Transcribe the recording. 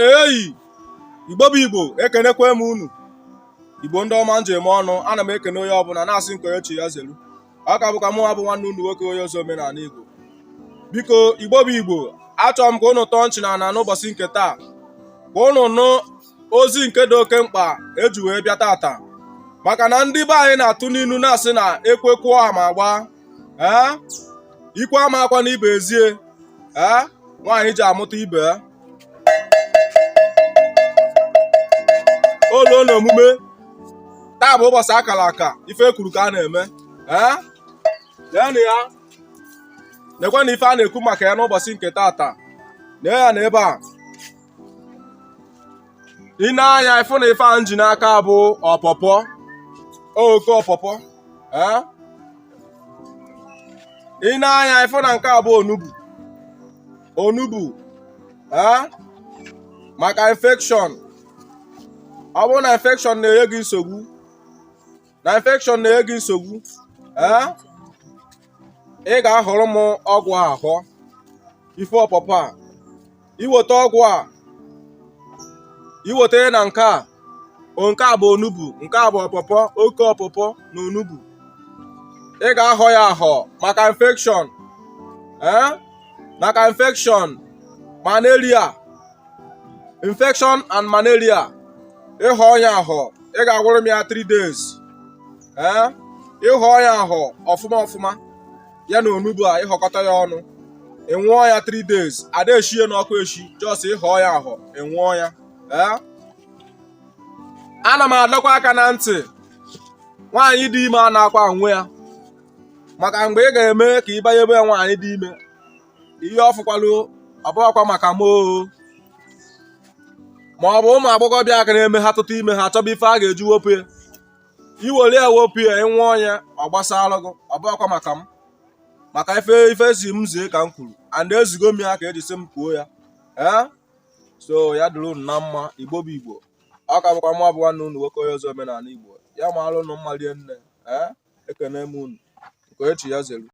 eyi igbo bụ igbo ekenekwe m unu igbo ndị ọma nji eme ọnụ ana m ekene onye ọbụla na-asị nke onye chi ya zelu ọ ka bụkwa mụnwa bụ nwanne unu nwoke onye ozi omenala Igbo biko Igbo bụ Igbo achọrọ m ka ụnụ tọọ nchị na ana n'ụbọsị nke taa ka ụnụ nụ ozi nke dị oke mkpa eji wee bịa tata maka na ndị be anyị na-atụ n'inu na-asị na ekwekwuo ama agba ee ikwe ama akwa na ibe ezie ee nwaanyị ji amụta ibe o lu na omume taa bụ ụbọsị a kara aka ife e kwuru ka a na-eme ee leenụ ya nekwe na ife a na-ekwu maka ya n'ụbọsị nke taata nee ya na ebe a i nee anya ịfụ na ife a nji n'aka bụ ọpọpọ oke ọpọpọ ee i nee anya ịfụ na nke a bụ onugbu onugbu eh? maka infection ọ bụrụ na infection na-enye gị nsogbu na infection na-enye gị nsogbu eh? ị ga-ahọrọ m ọgwụ a ahọ ife ọpọpọ a iweta ọgwụ a iweta na nke a nke a bụ onugbu nke a bụ ọpọpọ oke ọpọpọ na onugbu ị ga-ahọ ya ahọ maka infection ee eh? maka infection malaria infection and malaria ịhọọ nya ahọ ị ga-anwụrụ m ya 3 days ee ịhọọ nya ahọ ọfụma ọfụma ya na onugbu a ịhọkọta ya ọnụ ịnwụọ ya 3 days ada eshi ya n'ọkụ eshi just ịhọ ya ahọ ịnwụọ ya ee ana m adọkwa aka na ntị nwaanyị dị ime anaakwa anwụ ya maka mgbe ị ga-eme ka ị ba nyebe ya nwaanyị dị ime ihe ọ fụkwalụ ọbụghakwa maka m oo ma ọ bụ ụmụ agbọghọbịa aka na-eme ha tụta ime ha achọba ife a ga-eji wepụ ya iwere ya wepụ ya ịnwụọ nya ọ gbasara gị ọbụghakwa maka m maka ife ife e sị m zie ka m kwuru and ezigo m ya ka eji sị m kwuo ya ee so ya dịrị unu na mma igbo bụ igbo ọ ka bụkwa mụ bụ nwanne unu nwoke onye ozi omenala Igbo ya maalụ unu mma rie nne ee ekene m unu nke onye chi ya zelu